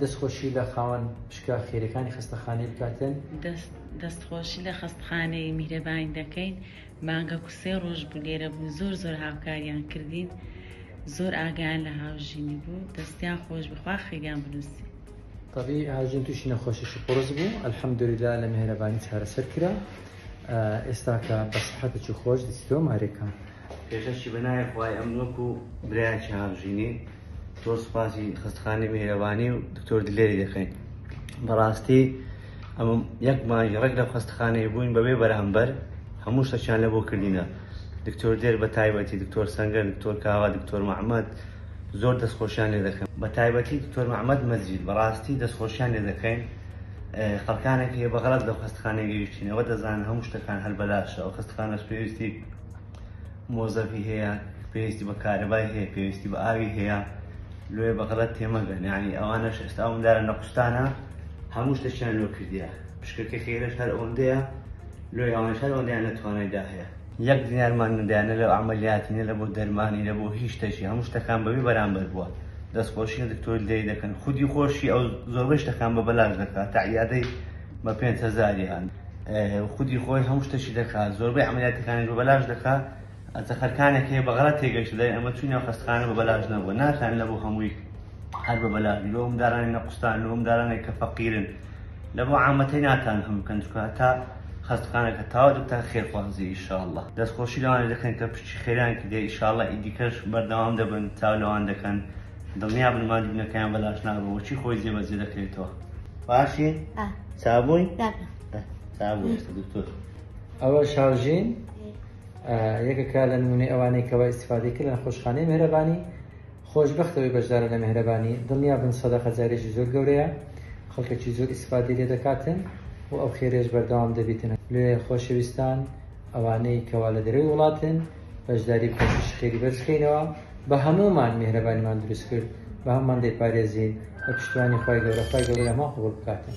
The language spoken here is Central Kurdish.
دەست خۆشی لە خاوەن پشکە خێرەکانی خەستەخانەی بکاتن. دەست دەست خۆشی لە خەستخانەی میهرەبانی دەکەین مانگەکو سێ ڕۆژ بوو لێرە بوو زۆر زۆر هاوکاریان کردین زۆر ئاگایان لە هاوژینی بوو دەستیان خۆش بی خوا خیریان بنوسی. تەبیعی هاوژین توشی نەخۆشی شپڕس بوو الحمدللە لە میهرەبانی چارەسەر کرا ئێستا کە بە سحەتە چوو خۆش دەچیتەوە مارێکا. پێشەکی بەناوی خوای ئەمن وەکو برایەکی هاوژینی. زۆر سوپاسی خەستەخانەی میهرەبانی و دکتۆر دلێری دەکەین بەڕاستی ئەمە یەک مانگی ڕێک لە خەستەخانەی بووین بەبێ بەرامبەر هەموو شتەکیان لە بۆ کردینە دکتۆر دێر بە تایبەتی دکتۆر سەنگەر دکتۆر کاوا دکتۆر محەممەد زۆر دەستخۆشیان لێ دەکەم بە تایبەتی دکتۆر محەممەد مەزید بەڕاستی دەستخۆشیان لێ دەکەین خەڵکانێک هەیە بەغەڵەت لەو خەستەخانەی گەیشتینەوە دەزانن هەموو شتەکان هەر بەلاشە ئەو خەستەخانەش پێویستی مۆزەفی هەیە پێویستی بە کارەبای هەیە پێویستی بە ئاوی هەیە لێ بەغەڵەت تێمەگەن یعنی ئەوانەش ئێستا ئەوم دارە نەقوستانە هەموو شتەشیان لۆ کردیە پشکەکە خێرەش هەر ئەوەندەیە لۆی ئەوانش هەر ئەوەندەیان لە توانایدا هەیە یەک دینارمان نەدایە نە لە عەمەلیاتی نە لە بۆ دەرمانی نە بۆ هیچ شتەکی هەموو شتەکان بەبێ بەرامبەر بووە دەستخۆشی لە دکتۆر دەی دەکەن خودی خۆشی ئەو زۆربەی شتەکان بە بەلاش دەکات تا عیادەی بە پێنج هەزاریان خودی خۆی هەموو شتەکی دەکات زۆربەی عەمەلیاتەکانیش بە بەلاش دەکات ئەزە خەرکانێک هەیە بەغەلەت تێگەشتە دەرێن ئەمە چووی ناو خەستەخانە بە بەلاش نەبووە ناتان لەبۆ هەمووی هەر بە بەلاش بی لۆ مندارانی نەقوستان لۆ مندارانێک کە فەقیرن لە بۆ عامەتەی ناتان هەم بکەن چکە هەتا خەستەخانەکە تاوا دەتان خێرخوازی ئیشاءاللە دەستخۆشی لەوانە دەکەن کە پشتی خێریان کردیە ئیشاءاللە ئیدیکەش بەردەوام دەبن چاو لەوان دەکەن دڵنیا بن ماندوو بنەکەیان بەلاش نابن وەچی خۆی جێبەجێ دەکرێتەوە باشی چابووی چابوو دکتۆر ئەوە شارژین یەکەکە لە نمونەی ئەوانەی کەەوە ئیسفادی کرد لە خۆشخانەی مهرەبانی خۆشببختەوەی بەشدارە لە مهرەبانی دڵنیا بن سەدا خەجارێکی زۆر گەورەیە خەڵکەکی زۆر ئیسفادی لێ دەکاتن و ئەو خێرێش بەردەوام دەبیتن لێ خۆشەویستان ئەوانەی کەوا لە دەرەوەی وڵاتن بەشداری پرۆسەی خێری بەرز بکەینەوە بە هەموومان میهرەبانیمان دروست کرد بە هەموومان دەیپارێزین بە پشتیوانی خوای گەورە خوای گەورە هەمووان قبوڵ بکاتن.